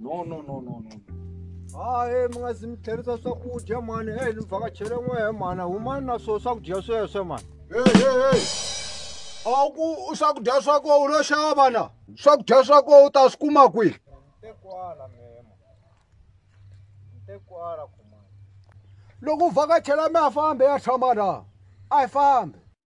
no no no no no hayi mi nga zi mi tlherisa swakudya mani heyi ni vhakachele n'we he mani humani na swo swakudya sweswe mani a ku swakudya swa koho u lo xava na swakudya swa koho u ta swi kuma kwihi loko u vhakachela mi ya fambe ya tshama na a yi fambi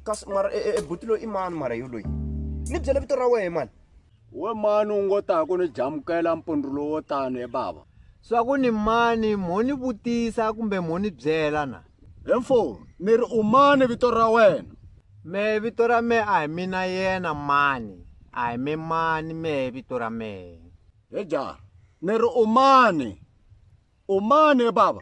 kasi mara e, e, e buti loyi i mani mara yo loyi ni byele vito ra wehe mani we mani u ngo taku ni jamukela mpundru lowo tano e bava swa ku ni mani mo ni vutisa kumbe mo ni byela na he mfo ni ri u mani vito ra wena me vito ra me a hi mina yena mani a hi me mani me vito ra mehe he ja ni ri u mani u mani bava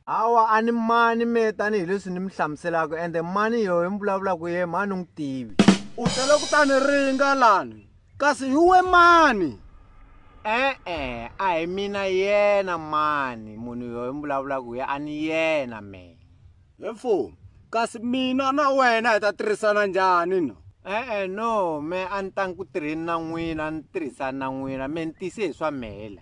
hawa a ni mani me tanihileswi ni mi hlamuselaka ende mani yoyo mi vulavulaka ye mani u n'wi tivi u tele ku tani ringa lani kasi hi we mani e-e a hi mina yena mani munhu yoyo mi vulavulaka ye a ni yena me he mfumo kasi mina na wena hi ta tirhisana njhani no e-e no me a ni tangi ku tirheni na n'wina a ni tirhisani na n'wina me ni tise hi swa mhela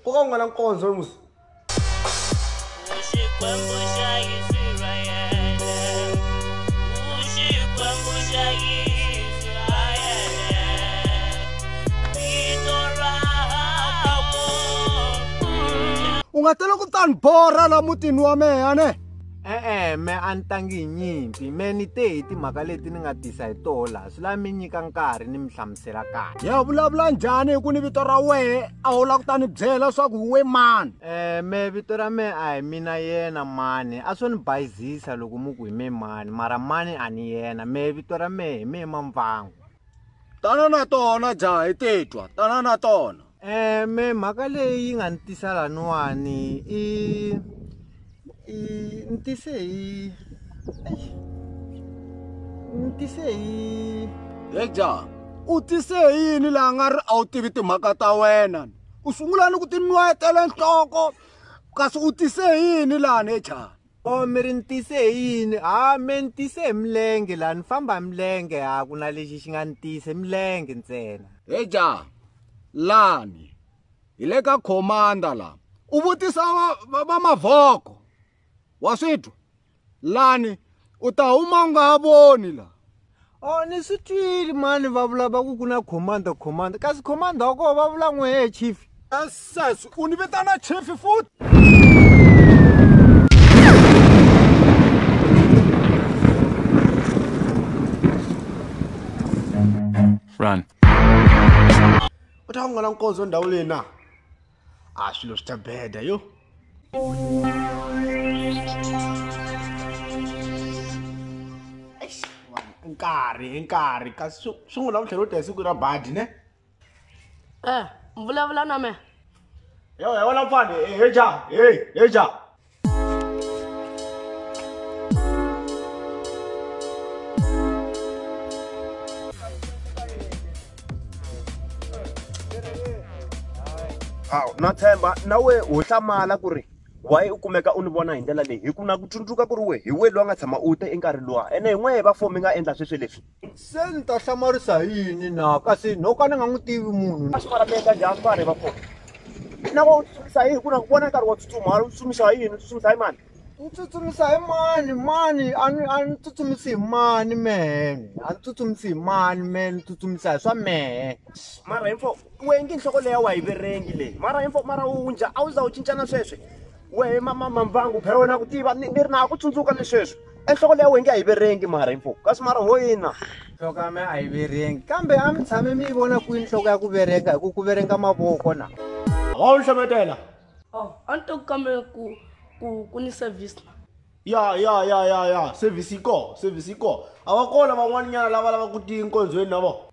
Nkoka ku nga na nkonzo musi. Xikwembu xa Israyele, u Xikwembu xa Israyele, vito ra hakwe. U nga tela ku ta ni borha la mutini wa mehe, a ne? e-e me a ni tangi hi nyimpi me ni te hi timhaka leti ni nga tisa hi toho laha swi lava mi nyika nkarhi ni mi hlamusela kahle ya vulavula njhani hi ku ni vito ra wehe a wu lava ku ta ni byela leswaku we mani um me vito ra me a hi mina yena mani a swo ni bayizisa loko mu ku hi me mani mara mani a ni yena me vito ra me hi me mamvangu tana na tona jaha hi titwa tana na tona um me mhaka leyi nga ni tisa laniwani i i ni tise hi ni tise hi he jaha u tise hi yini laha nga ri a wu tivi timhaka ta wena u sungula ni ku tinwetela nhloko kasi u tise hi yini lani he jaha o oh, mi ri ni tise hi yini ha me ni tise hi milenge laha ni famba hi milenge ha ku na lexi xi nga ni tise milenge ntsena he ja lani hi le ka khomanda la u vutisa va, va, va mavhoko wa swi twa lani u ta huma u nga ha voni la Oh, ni swi twile mani va vula va ku ku na commander commander kasi commander wa koho va vula n'we he chief sas u ni vitana chief futhi run u ta ku nga na nkondzo ndhawu leyi na a swilo swi ta beda yo nkarhi i nkarhi kasi swi swi n'wi lavutlhela u ta hi siku ra badi ne e vulavula na me yo he wona mfane he ja he he ja hawu na tshemba na we ho hlamala ku ri wayi u kumeka u ni vona hi ndlela leyi hi ku na ku tsundzuka ku ri we hi we loyi a nga tshama u te enkarhi luwa ene hi n'wehe va four mi nga endla sweswe leswi Se ni ta hlamarisa hi yini na? Kasi no ka ni nga n'wi tivi munhu. A swi va mi endla njhani vanhu va kona? Na ku tsutsumisa hi yini ku na ku vona nkarhi wo tsutsuma, u tsutsumisa hi yini, u tsutsumisa hi mani? Ni tsutsumisa hi mani mani a ni a ni tsutsumisi hi mani mehe ni a ni tsutsumisi hi mani mehe ni tsutsumisa hi swa mehe. Mara info wena ngi nhloko leyi a wa yi verengi leyi mara info mara u njha a wu za u cincana sweswi. wehe mamamambangu phela wena ku tiva ni ni ri na ku tsundzuka ni sweswi enhloko leya wenge a yi verengi mara info kasi mara ho yina nhloko ya me a yi verengi kambe a mi tshame mi yi vona kwini nhloko ya ku verenga hi ku ku verenga mavoko na wa wu hlometela Oh, a ni to ku kambela ku ku ku ni service na. ya ya ya ya ya service yi koho service yi koho a va kona van'waninyana lava lava ku tiyi nkonzweni na vona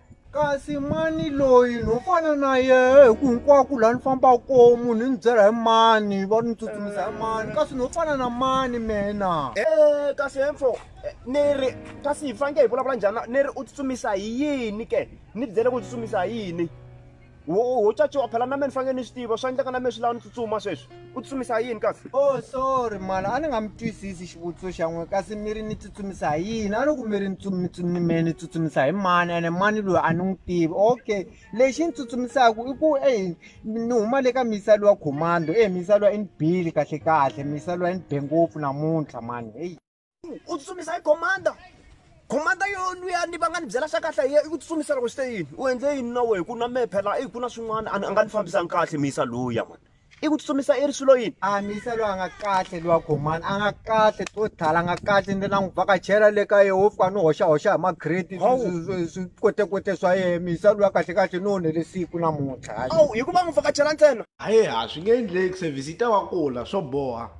Kasi mani loyi no fana na yena hi ku hinkwako laha ni fambaka kona munhu ni byela hi mani va ni tsutsumisa hi mani kasi no fana na mani mina um kasi hemfo eh, ni ri kasi hi faneke hi vulavula njhani ni ri u tsutsumisa hi yini ke ni byele ku tsutsumisa hi yini wo wo caciwa phela na me ni fanele ni swi tiva swa endleka na me swi lava ni tsutsuma sweswi u tsutsumisa yini kasi o oh, sorry mala a ni nga mi twisisi xivutiso xa n'we kasi mi ri ni tsutsumisa hi yini a ni ku mi ri ni me ni tsutsumisa hi mani ene mani loyi a ni n'wi tivi okay lexi ni tsutsumisaka i ku e ni huma le ka misa lowa commando e misa lowa i ni bile kahle kahle misa lowa i ni be ngopfu namuntlha mani heyi u tsutsumisa hi commander commander yo luya ni va nga ni byela swa kahle hi ku tsutsumisa loko swi te yini u endle yini na wehe ku na mehe phela i ku na swin'wana a nga ni fambisanga kahle miyisa luya mani i ku tsutsumisa i ri swilo yini a miyisa loyi a nga kahle luwa commander a nga kahle to thala a nga kahle ni na n'wi vhakachela le ka yehe wo fika ni hoxahoxa hi magrade swi kotekote swa yehe miyisa luya kahle kahle ni onhele siku namuntlha hikuva n'wi vhakachela ntsena hayi ha swi nge endleki service yi ta va kula swo boha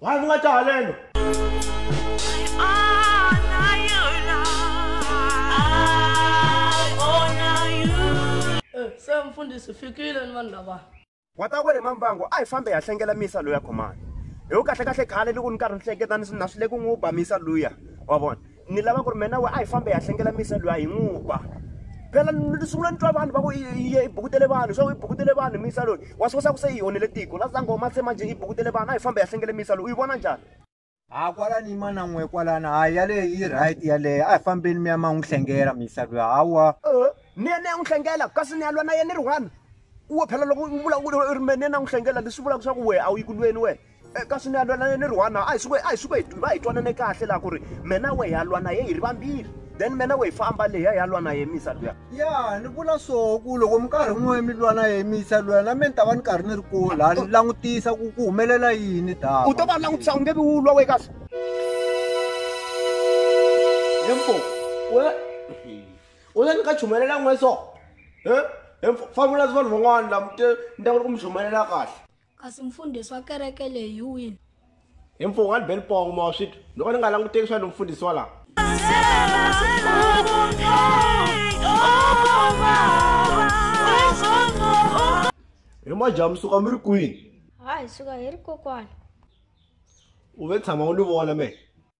why ndzi nga ta haleno se mfundhisi fikile ni vanhu lava wa ta kwele mambango a hi fambe ya hlengela misa loya khomani hi ku kahlekahle khale loko ni karhi ni hleketa ni swi na swi le ku n'wi ba misa luya wa vona ni lava ku ri mina we a hi fambe hi ya hlengela misa loyi a hi n'wi ba phela ni sungula ni twa vanhu va ku iye i bukutele vanhu swa ku i bukutele vanhu misa loyi wa swi kosa ku se yi onhele tiko la sango ma se manje i bukutele vanhu a hi fambe hi ya hlengele misa loyi u yi vona njhani ha kwalani mana n'we kwalani hayi yaleyo yi right yaleyo a hi fambeni mi ya ma n'wi hlengela misa loyi hawa ni ya ni ya n'wi hlengela kasi ni ya lwa na yena ni ri one uwe phela loko u vula u ri me ni ya na n'wi hlengela leswi vulaka swa ku wehe a wu yi ku lweni wena kasi ni ya lwa na yena ni ri one a hi suke a hi suke hi va hi twanane kahle laha ku ri mena we hi ya lwa na ye hi ri vambirhi then mena we hi famba leya hi ya lwa na ye misa luya ya ni vula so ku loko mi karhi n'we mi lwa na ye misa luya na me ni ta va ni karhi ni ri kule laha ni langutisa ku ku humelela yini dava u to va langutisa u nge vi wu lwa we kasi hemfo u la ni ka chumelela n'we so he hemfo famula vanhu van'wana laha mi te ni ta ku ri ku mi chumelela kahle Kasi mfundhisi wa kereke leyi hi wini? Hi mfungho wa Libelipong mowa swi twa. Loko ni nga languteki swa lomfundhisi wa laha. He majaha mi suka mi ri kwini? Ha hi suka hi ri kokwana. U ve tshama u ni vona mehe.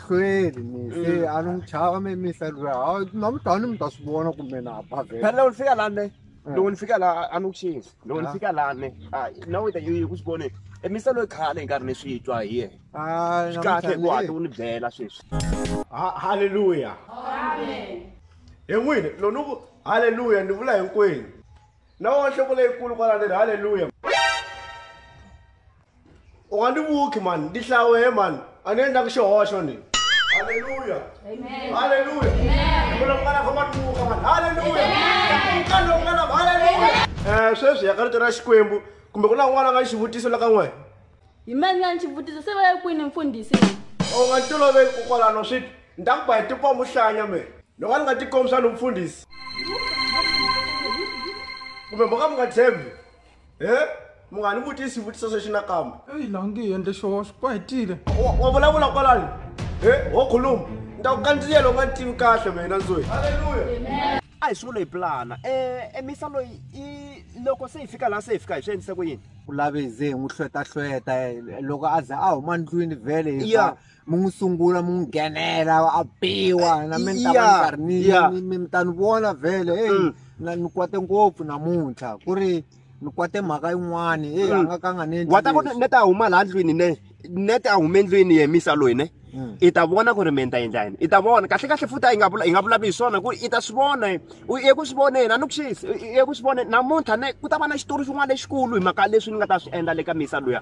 Kweli mi se Mm. a ni n'wi chava mi mi se lwa a na mi tani mi ta swi vona kumbe na ba vhele phela loko ni fika lani Eh. loko ni fika la a ni ku xinzi loko ni Ah. fika lani hayi na wita yi ku swi vone emisa loyi khale hi nkarhi ni swi twa hi yena a swi kahle ku hatla u ni byela sweswi Ha- haleluya hi n'wini loko ni ku haleluya ni vula hinkwenu na wa nhloko leyikulu kwala ni ri haleluya u nga ni vuki mani ndi hlawehe mani a ni endlaka xihoxo ni halleluya halleluya vula ku nga na famba ni vuka mani halleluya ka loku nga na halleluya um sweswi ya ka rito ra xikwembu kumbe ku na un'wana a nga ni xivutiso la ka n'wena hi mani ya ni xivutiso se va ya kwini mfundhisi u nga ni toloveli ku kwalano swi ti ni ta ku ba hi tikombo hlanya me loko a ni nga tikombisa ni mfundhisi kumbe mo ka mi nga tshembi he munghani vutisa swivutiso sweswi nakambe eyi laha nge endle xoho swi ku hetile Wa- wa vulavula kwalani he wo khuluma ni ta ku kandziya loko nga ni tivi kahle mina nzoyi a hi swivula hi pulana um emisa loyi i loko se hi fika laha se hi fika hi swi endlise ku yini u lave ze hi n'wi hlwetahlweta eh, loko a za a huma ndlwini vhele hi Yeah. fa- mi n'wi sungula mi n'wi nghenela a biwa na mi ni ta va ni karhi ni Yeah. ni- mi mi ta ni vona vhele Mm. eyi na ni kwate ngopfu namuntlha ku ri ni kwate mhaka yin'wani eyi a Mm. nga ka a nga ni endli wa ta ku leswi. ne ta huma laha ndlwini ne ne ta huma endlwini yemisa loyi ne Mm. i ta vona ku ri mi ta endla yini i ta vona kahle kahle futhi a yi nga vula- hi nga vulavuli hi swona ku ri i ta swi vona u ye ku swi voneni a ni ku xisi i ye ku swi voneni namuntlha ne ku ta va na xitori xin'wana lexikulu hi mhaka leswi ni nga ta swi endla le ka misa luya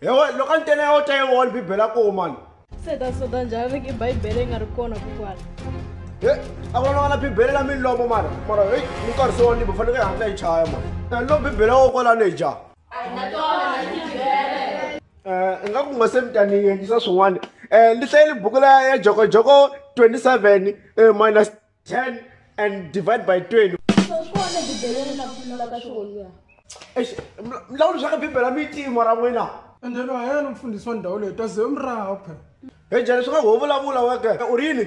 Hewa loko a ni tena ya u ta yi wona bibele a koho mani se ta soda njhani i bibele yi nga ri kona kokwala he a ku lona na bibele la milomo mara mara heyi ni nkarhi se wanibo faneke yi hatla yi chaya mani eh, lo bibele wo kwalani hi jaha eh, i nga ku nga se mi ta ni yendlisa swin'wana um eh, ni hlayeli buku la ya jokojoko 27 minus 10 and divide by 20 Eish, mla- mlawuli swa ka bibele a mi yi tiyi mora n'wina ende lo a yena mfundhisi wa ndhawu leyi ta ze u mi raha phela he jele swi nga ho vulavula weke u ri yini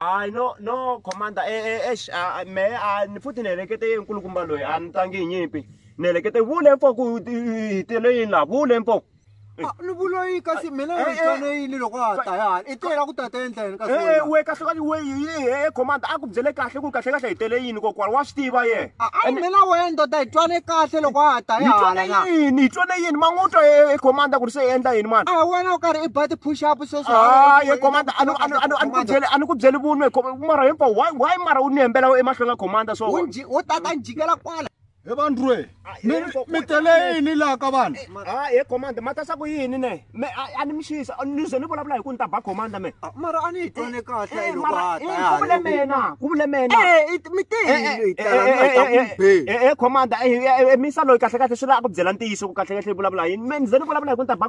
hayi no no commander e, e, ex me a ni futhi ni helekete ye nkulukumba loyi a ni tangi hi nyimpi ni helekete vule mfo ku hi tele yini laha vule mfo ni vula yini kasi mina ni tshane yini loko a ta yana i tela ku tata endleni kasi e we kahle kahle we e commander a ku byele kahle ku kahle kahle hi tele yini kokwani wa swi tiva ye a mina wena ndoda hi twane kahle loko a ta yana hi twane yini hi twane yini man'utwa e commander ku ri se endla yini mani a wena u karhi i ba ti push up Ah, ye commander a ni a ni a ni a ni ku byeli a ni ku byeli vunwe com- mara hinkwa why why mara u ni hembela emahlweni ka commander so wo tata njikela kwala he vandrwe mi mi tele yini laha ka vanhu ah ye commander matasa ku yini ne me a a ni mixisa ni ze ni vulavula hi ku ni ta ba commander me mara a ni yi twane kahle Eh, loko mara ha eh, ta ku vule mina ku vule mina mi te hi tala mi ta ku be e commander e misa loyi kahle kahle swi la a ku byela ntiyiso ku kahle kahle yi vulavula yini me ni ze ni vulavula hi ku ni ta ba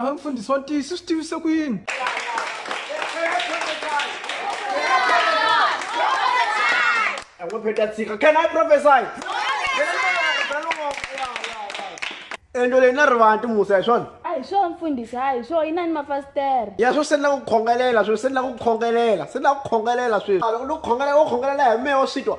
Ava mfundhisi wa ntiyiso swi tivise ku yini? Pheta tshika. Can I prophesy? Endo leyi na rivanti musa hi swona? A hi swona mfundhisi, a hi swona, yi na ni mafasitere. Ya sweswi se ni lava ku khongelela sweswi, se ni lava ku khongelela, se ni lava ku khongelela sweswi. Loko ni ku khongelela, wo khongelela hi mehe wa swi twa.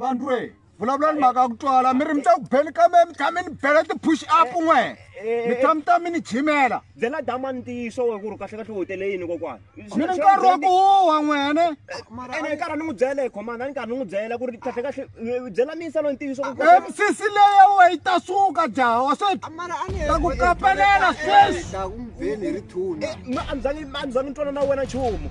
vanhu re vulavula ni mhaka ya ku twala mi ri mi ta ku beni kambe mi tshame ni bela ti-push up n'we mi tshame ta mi ni jimela byela dama ntiyiso we ku ri kahlekahle u hotele yini kokwana mi ni nkarhi wa ku huwa n'wene ene hi karhi ni n'wi byela hi khomana ni karhi ni n'wi byela ku ri kahlekahle byela miyisa loyi ntiyiso misisi leya we yi ta suka jaha wa se ta ku kapelela sweswi a ni zangi ni twana na wena nchumu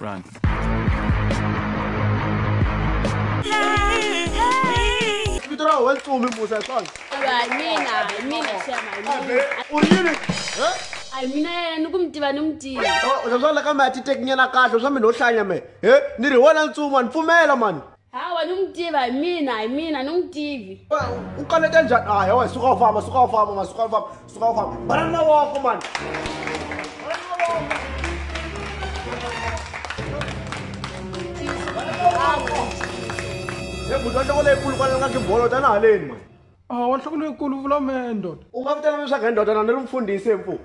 Run. Kidra went to me Musa son. Mina, mina chairman. Unini. Ai mina yena ni ku mi tiva ni mi tiva. Swa swa la ka mi ya titekinyela kahle swa mi no hlanya me. He ni ri wona ntsuma ni pfumela mani. hawa ni n'wi tiva hi mina hi mina ni n'wi tivi u kanete njhani a hewa suka u famba suka u famba ma suka u famba suka u famba bana na woko mani e buti wa nhloko leyikulu kwale nga kibolo tana haleni mani a wa nhloko leyikulu vula me ndoda u nga vitana leswaku hi ndodana ni ri mfundhisi hi mpfuku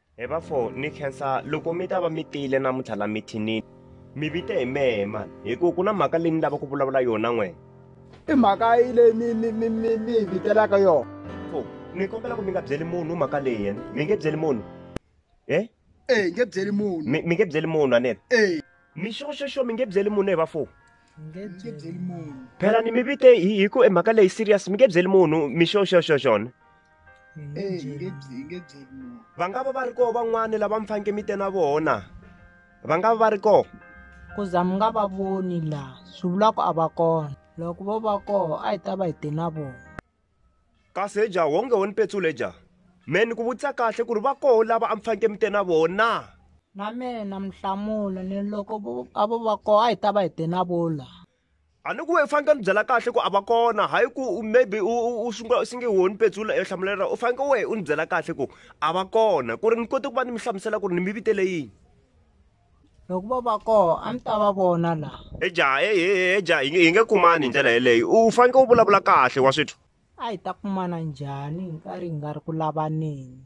Hi va fo ni khensa loko mi ta va mi tile namuntlha la mithinini mi vite hi mehe mani hi ku ku na mhaka leyi ni lava ku vulavula yona n'wena i mhaka yi leyi mi mi mi mi mi hi vitelaka yona fo ni kombela ku mi nga byeli munhu mhaka leyi yena mi nge byeli munhu e e hi nge byeli munhu mi mi nge byeli munhu anene e mi xoxoxo mi nge byeli munhu hi va fo phela ni mi vite hi ku e mhaka leyi serious mi nge byeli munhu mi xoxoxo xona va nga va va ri koho van'wana lava mi faneke mi te na vona va nga va va ri koho ku za mi nga va voni laha swi vula ku a va kona loko vo va koho a hi ta va hi te na vona kasi eja wonge wo ni petsula eja me ni ku vutisa kahle ku ri va koho lava a mi faneke mi te na vona na mina mi hlamula ni loko a vo va koho a hi ta va hi te na vona laha a ni ku i fanekele ni byela kahle ku a va kona hayi ku maybe u sungula u singe wo ni petsula e hlamula lera u fanekele wehe u ni byela kahle ku a va kona ku ri ni kote ku va ni mi hlamusela ku ri ni mi vitele yini loko va va koho a ni ta va vona laha eja eja hi nge kumani hi ndlela yeleyo u fanekele u vulavula kahle wa swithu a hi ta kumana njhani hi nkarhi hi nga ri ku lavaneni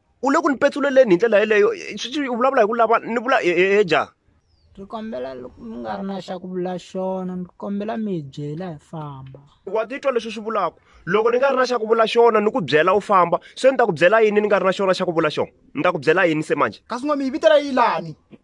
u le ku ni petsuleleni hi ndlela yeleyo sweswi u vulavula hi ku lava ni vula eja ndzi kombela loko mi nga ri na xa ku vula xona ndzi kombela mi hi byela hi famba wa titwa leswi swi vulaka loko ni nga ri na xa ku vula xona ni ku byela u famba se ni ta ku byela yini ni nga ri na xona xa ku vula xona ni ta ku byela yini se manje kasi n'wami yi vitela yi lani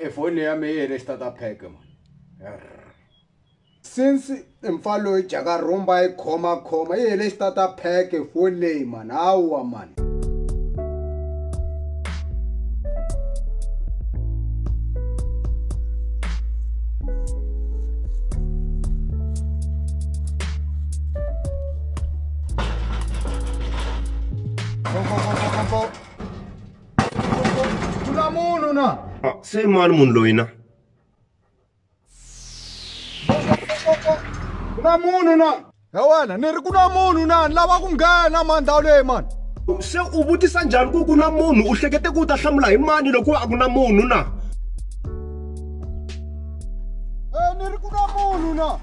efoni ya me yi hele xitata pheke mani since mpfa loyi jaka rhumba yi khomakhoma yi hele xitata pheke foni leyi mani hawa mani Tula munhu na. Ah, se mani munhu loyi na. Ku na munhu na. He wena ni ri ku na munhu na ni lava ku nghena mani ndhawu leyi mani. Se u vutisa njhani ku ku na munhu u hlekete ku u ta hlamula hi mani loko a ku na munhu na. He ni ri ku na munhu na.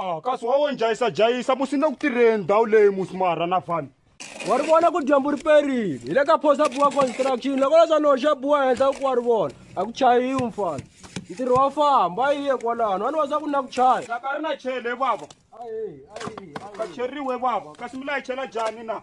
a kasi wa wo njhayisajhayisa musi na ku tirheni ndhawu leyi musi marha na vanhu wa ri vona ku dyambu ri perile hi le ka phosa buwa construction loko leswa ni hoxa buwa henhla ku wa ri vona a ku chayiwi mfana ntirho wa famba yi ye kwalano wani wasa ku na ku chaya ka ri na chele vava ka cheriwe vava kasi mi layichela jani na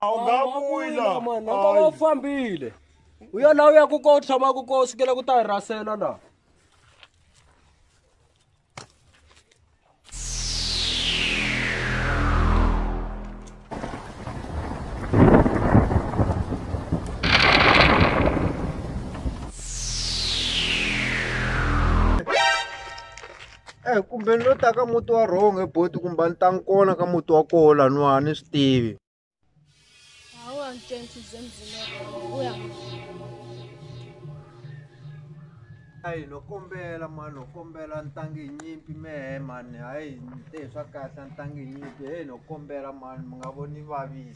a wu nga vuyi la mani loko va fambile u ya laha u yaku ko u tshamaku ko u sukela ku ta hi rasela laha Eyi kumbe ni lo ta ka muti wa wrong he buti kumbe a ni tangi kona ka muti wa koho laniwa a ni swi tivi hayi no kombela mani no kombela ni tangi hi nyimpi mehe mani hayi ni te hi swa kahle a ni tangi hi nyimpi heyi no kombela mani mi nga voni ni vavisa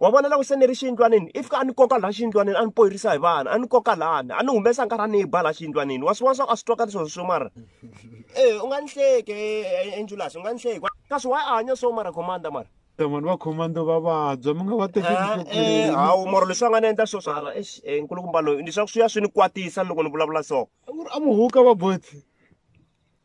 wa vona loko se ni ri xiyindlwanini if a ni koka laha xiyindlwanini a ni poyirisa hi vana a ni koka lani a ni humesa nkarhi a ni yi ba laha xiyindlwanini wa swi vona swa ku a swi twakali sweswo swo mara e u nga ni hleki enjulas u nga ni hleki kasi wa hanya so mara commander mara vanhu va commando va vabya mi nga va tekeli hawu moro leswi va nga ni endla swo swa nkulukumba loyi leswaku swi ya swi ni kwatisa loko ni vulavula so a muhuka va bothi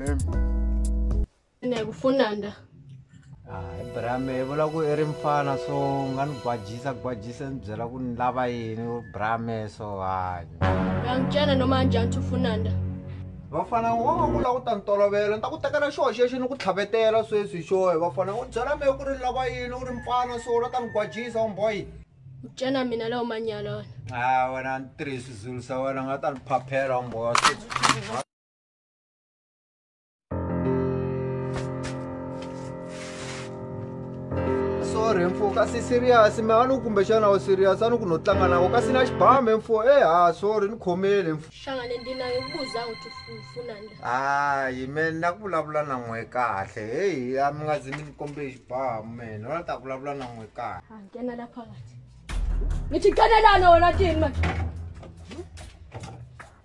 mem ne kufunanda hayi ah, brame i vula ku i ri mfana so u nga ni gwajisa gwajisa ni byela ku ni lava yini u brame so hayi yangicana noma njani thufunanda vafana wa va vula ku ta ni tolovela ni ta ku tekela xoho xexi ni ku tlhavetela sweswi xohe vafana u byela me ku ri ni lava yini u ri mfana so u la ta ni gwajisa umboyi ucana mina lawo manyala wena a ah, wena ni tirhisi zulu sa wena nga ta ni phaphela umboya sorry mfo ka si serious me a ni kumbexana u serious a ni ku no tlanga na u ka si na xibame mfo e ha sorry ni khomele mfo hlangane ndi nayo buza u tifunanda hayi me na ku vulavula na n'we kahle heyi a mi nga zi mi ni kombe xibamu mene wona ta vulavula na n'we kahle ha nghena la phakathi mi ti kanelana wena tini mani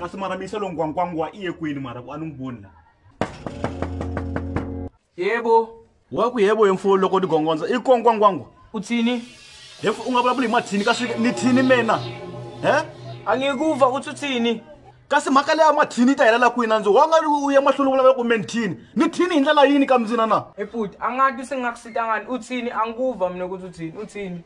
kasi mara misa lo ngwangwangwa i ye kwini mara ku a ni n'wi voni la yebo wa ku yebo hemfo loko ni gongondza i kongwangwangwa u tsini hemfo u nga vulavuli hi mathini kasi ni thini mina he a nge ku va u tsutsini kasi mhaka leya mathini yi ta helela kwini a ndzi wa nga u ya mahlweni u vulavula ku me ni thini ni thini hi ndlela yini ka mindzina na eputi a nga ti se nga ku sitangani u tsini a nguva mina ku tsutsini u tsini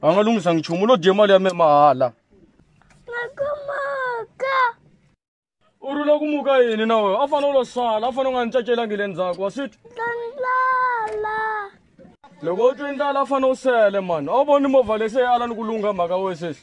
va nga lunghisa nchumu u lo dye mali ya me mahala u ri la ku muka yini na wena a fanele u lo sala a fanele u nga ni cacelangi le ndzhaku wa switwa loko u twe ndlala a fanele u sele mani a wu voni movha lese yi ala ni ku lungha mhaka wesesi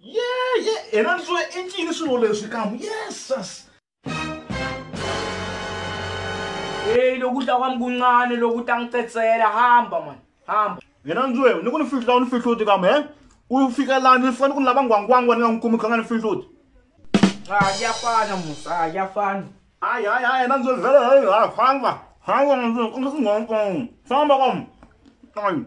ye ye yena ni swo i ncini swilo leswi kamu yesus eyi loko u ta kwami kuncane loko u ta n'wi tsetsela hamba mani hamba yena ni swo ni ku ni fihla u ni fihluti kamu he u fika laha ni fika ni ku ni lava nghwangwangwa ni nga n'wi kumi kha nga ni fihluti a ya fana musa a ya fana hayi hayi hayi yena ni swo vhele hayi hayi famba famba famba kamu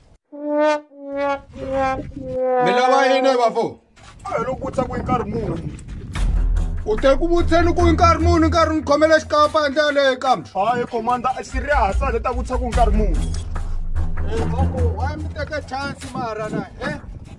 mi lava yini vafo loko vutisa ku i nkarhi muni u te ku vutseni ku i nkarhi muni nkarhi ni khomela xikapa endla yaleyo kambe hayi komanda serious a le ta vutisa ku i nkarhi muni wa mi teka chance maharana e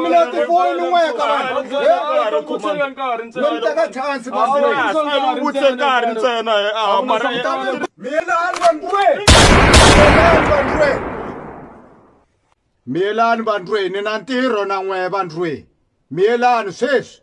mina tifoni ni n'we ka vanhuvutshela nkarhi ntsena chance masiuvutse nkarhi ntsena mina andwe miyelani vandlweni na ntirho na n'we vandlweni miyelani sweswi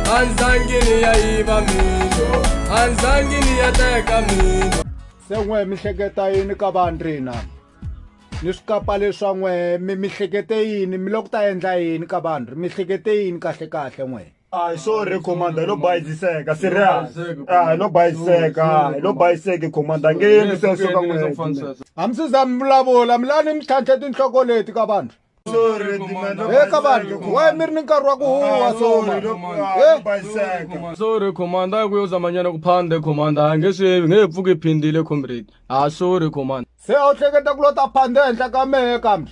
anzangini ya yiva mino anzangini ya teka mino se n'we mi hleketa yini ka vandrina ni swikapa leswa n'we mi mi hlekete yini mi loko ta endla yini ka vanhu mi hlekete yini kahle kahle n'we Ay, sorry commander lo bayiziseka serious ah lo bayiziseka lo bayiseke commander ngeke mi se soka n'we hambi sizami vulavula mi lani mi tlhantlhe tinhloko leti ka vanhu Eka vanhu waye mi ri ni nkarhi wa ku huwa soma Eh? sorry commander a ku yo zamanyana ku phande commander a nge swi nge he pfuki phindile comrade a sorry commander se a wu hleketa ku lo ta phanda ehenhla ka mehe kambe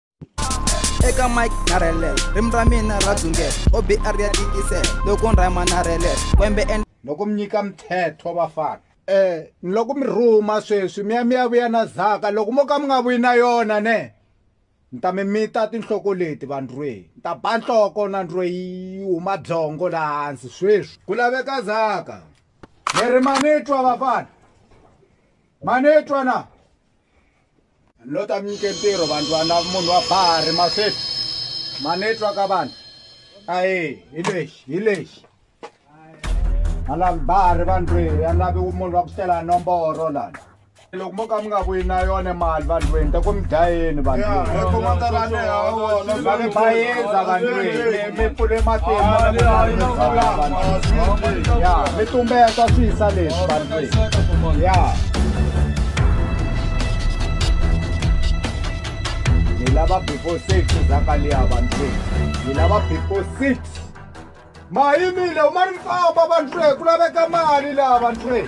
eka mike na relel rim ra mina ra dzungel obr ya tikisel loko nrhayima na relel kwembe en loko mi nyika mthetho vafana um ni loko mi rhuma sweswi mi ya mi ya vuya na zaka loko mo ka mi nga vuyi na yona ne ni ta mi mita tinhloko leti vandrweyi ni ta ba nhloko na ndrweyi huma byongo laha hansi sweswi ku laveka zaka mi ri manitwa vafana manitwa na no ta mi nyike ntirho vanhu va na munhu wa bahari masweti ma ni twa ka vanhu ayi hi lexi hi lexi a lavi bahari vanhu lweyi a lavi munhu wa ku tlela nomboro lana loko mo ka mi nga vuyi na yona mali vandlweni ta ku mi dlayeni vandlweni bayeza vandlweni mi pfule matimaya mi tumbeta swi yisa leswi vanhu ya ni lava before six zakaliya vanhu ni lava before six mayimile uma ni famba vanhu ku laveka mali laha vanhu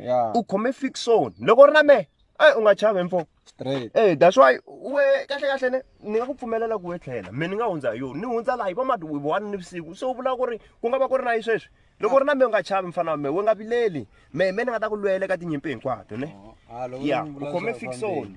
yeah. u khome fixon loko u ri na mehe eyi u nga chavi mfo eyi eh, that's why we kahle kahle ne ni nga ku pfumelela ku we tlhela me ni nga hundza hi yona ni hundza laha hi va madwivi wani ni vusiku so u vula ku ri ku nga va ku ri na yi sweswi loko u ri na me u nga chavi mfana wa me we nga vileli me me ni nga ta ku lwela eka tinyimpi hinkwato ne oh, ah, ya u khome fixon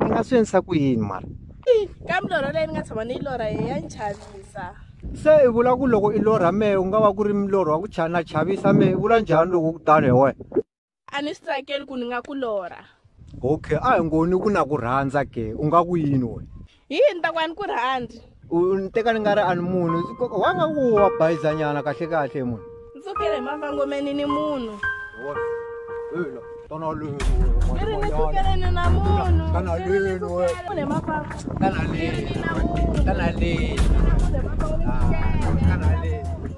i nga swi endlisa ku yini mara ka milorho leyi ni nga tshama ni yi lorha hi ya ni chavisa se i vula ku loko i lorha mehe u nga va ku ri milorho wa ku chana chavisa mehe i vula njhani loko ku tano hi wena a ni swi tsakeli ku ni nga ku lorha okay a hi ngoni ku na ku rhandza ke u nga ku yini wena hi yini ni ta ku a ni ku rhandzi u ni teka ni nga ri a ni munhu wa nga ku wa bayizanyana kahle kahle munhu ni tsukile hi mavangomeni ni munhu kana lenu na munhu kana lenu kana lenu kana lenu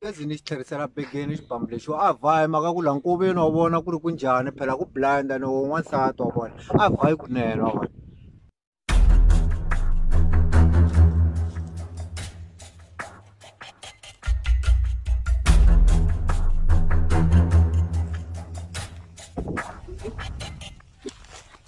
gezi ni xi tlherisela begeni xibambu lexi a vhayi maka ku la nkoveni wa vona ku ri ku njhani phela ku blind ni wo n'wansati wa vona a vhayi kunene wa vona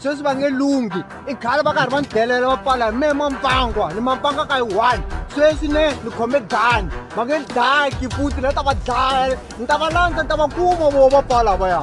sweswi va nge lunghi i khale va karhi va ni delela va pfala hi mehe mampangwa ni mampanga ka yi one sweswi ne ni khome gani va nge ni dlaya kiputi ni ta va dlaya ni ta va landza ni ta va kuma vo va pfala va ya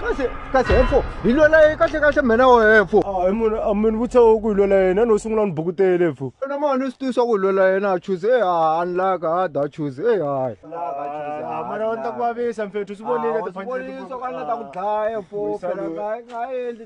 kahle kahle hefo hi lwela yena kahle kahle mina wo hefo a hi munhu a mi ni vutisa ku hi lwela yena no sungula ni bukutele hefo na ma ni swi tivisa ku hi lwela yena a chuze e a ni laka a da chuze e hayi mara ni ta ku vavisa mfethu swi vonile tifanele ta ku dlaya hefo phela nga nga endli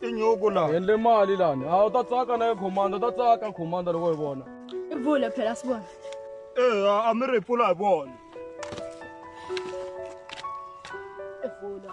tinyuku la hi endle mali lani a wu ta tsaka na ye khomanda u ta tsaka khomanda loko yi vona i vula phela swi vona eya a mi ri hi pfula hi vona i vula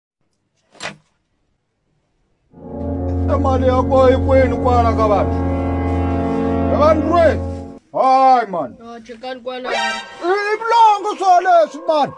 mali yako ikwenu kwana ka vanhu ka vanhu lwe hayi mani Ah, chekani kwala. i vulongo swo leswi mani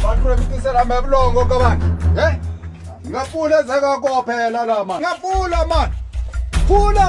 vakuremisela mevulongo ka vanhu e nga pfula ndzhaka ko phela la mani nga pfula mani pfula